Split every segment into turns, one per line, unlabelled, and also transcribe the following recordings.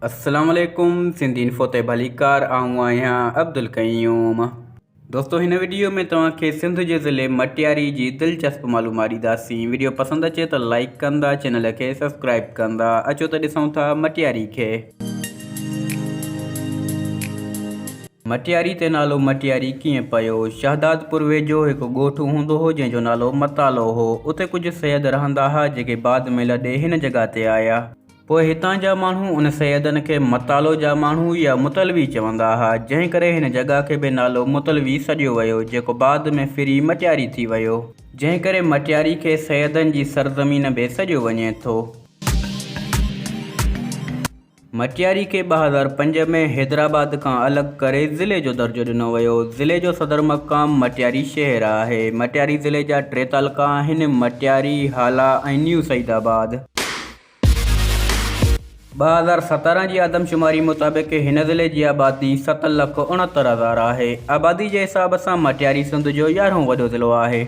السلام عليڪم سنڌي انفو تي ڀليڪار آئون آهيان عبدالقيوم دوستو هن وڊيو ۾ توهان کي سنڌ جي ضلعي مٽياري جي دلچسپ معلومات ڏينداسين وڊيو پسند اچي ته لائيڪ ڪندا چينل کي سبسڪرائيب ڪندا اچو ته ڏسون ٿا مٽياري کي مٽياري تي نالو مٽياري ڪيئن پيو شهدادپور ويجهو هڪ ڳوٺ هوندو هو جنهن جو نالو متالو هو اتي ڪجهه سيد رهندا ها جيڪي بعد ۾ لڏي هن جڳهه تي آيا پوء هتان جا ماڻهو ان سيدن کي متالو جا ماڻهو يا متلوي چوندا ها، جنهن ڪري هن جڳهه کي به نالو متلوي سڏيو ويو، جيڪو بعد ۾ ڦري مٽياري ٿي ويو. جنهن ڪري مٽياري کي سيدن جي سرزمين به سڏيو وڃي ٿو. مٽياري کي ٻه هزار پنج ۾ حيدرآباد کان الڳ ڪري ضلعي جو درجو ڏنو ويو. ضلعي جو صدر مقام مٽياري شهر آهي. مٽياري ضلعي جا ٽي تعلقا آهن، مٽياري، هالا ۽ نيو سعيد آباد. ٻه هزار سترهن جي آدمشماري مطابق هن ضلعي جي آبادي ست لک اڻهتر هزار آهي. آبادي جي حساب سان مٽياري سنڌ جو يارهون وڏو ضلعو آهي.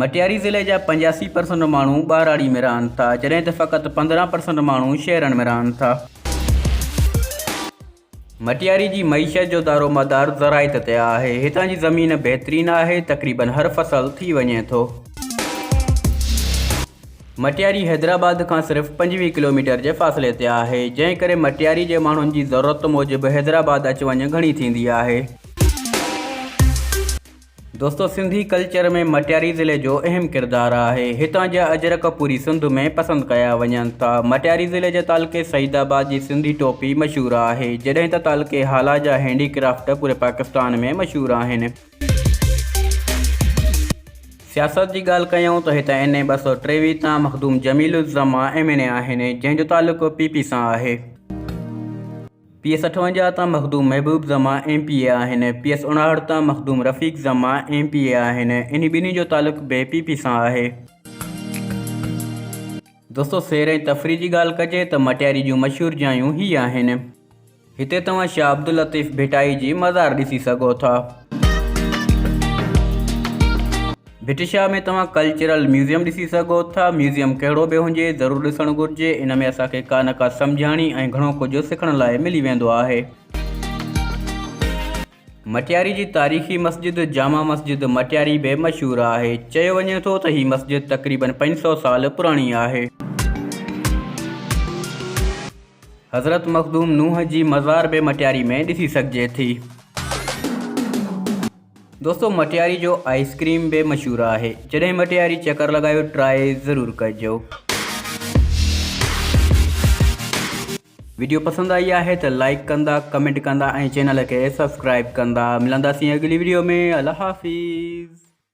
مٽياري ضلعي جا پنجاسي پرسنٽ ماڻهو ٻهراڙي ۾ رهن ٿا جڏهن ته فقط پندرهن پرسنٽ ماڻهو شهرن ۾ رهن ٿا. مٽياري جي معيشت جو دارومدار زراعت تي آهي. هتان جي زمين بهترين آهي، تقريبن هر فصل ٿي وڃي ٿو. مٽياري حيدرآباد کان صرف پنجويهه ڪلوميٽر جي فاصلي تي آهي، جنهن ڪري مٽياري جي ماڻهن جي ضرورت موجب حيدرآباد اچ وڃ گهڻي ٿيندي آهي. دوستو سنڌي ڪلچر ۾ مٽياري ضلعي جو اهم ڪردار آهي. هتان جا اجرڪ پوري سنڌ ۾ پسند ڪيا وڃن ٿا. مٽياري ضلعي جي تعلقي سعيد آباد جي سنڌي ٽوپي مشهور آهي، جڏهن ته تعلقي هالا جا هينڊي ڪرافٽ پوري پاڪستان ۾ مشهور آهن. سياست جي ڳالهه ڪيائون ته هتان اين اي ٻه سؤ ٽيويهه تان Makhdoom Jamil Uzzaman M N A آهن، جنهن جو تعلقو پي پي سان آهي. پي ايس اٺونجاهه تان Makhdoom Mehboob Zaman M P A آهن، پي ايس اڻاهٺ تان Makhdoom Rafiq Zaman M P A آهن، انهي ٻنهي جو تعلق به پي پي سان آهي. دوستو سير ۽ تفريح جي ڳالهه ڪجي ته مٽياري جون مشهور جايون هي آهن. هتي توهان شاهه عبداللطيف ڀٽائي جي مزار ڏسي سگهو ٿا. ڀٽ شاهه ۾ توهان ڪلچرل ميوزيم ڏسي سگهو ٿا. ميوزيم ڪهڙو به هجي، ضرور ڏسڻ گهرجي. ان ۾ اسان کي ڪا نه ڪا سمجهاڻي ۽ گهڻو ڪجهه سکڻ لاء ملي ويندو آهي. مٽياري جي تاريخي مسجد جامع مسجد مٽياري به مشهور آهي. چيو وڃي ٿو ته هي مسجد تقريبن پنج سؤ سال پراڻي آهي. حضرت مخدوم نوح جي مزار به مٽياري ۾ ڏسي سگهجي ٿي. دوستو مٽياري جو آئس ڪريم به مشهور آهي جڏهن مٽياري چڪر لڳايو ٽرائي ضرور ڪجو. ويڊيو پسند آئي آهي ته لائيڪ ڪندا ڪمينٽ ڪندا ۽ چينل کي سبسڪرائيب ڪندا ملنداسين اڳلي ويڊيو ۾ الله حافظ.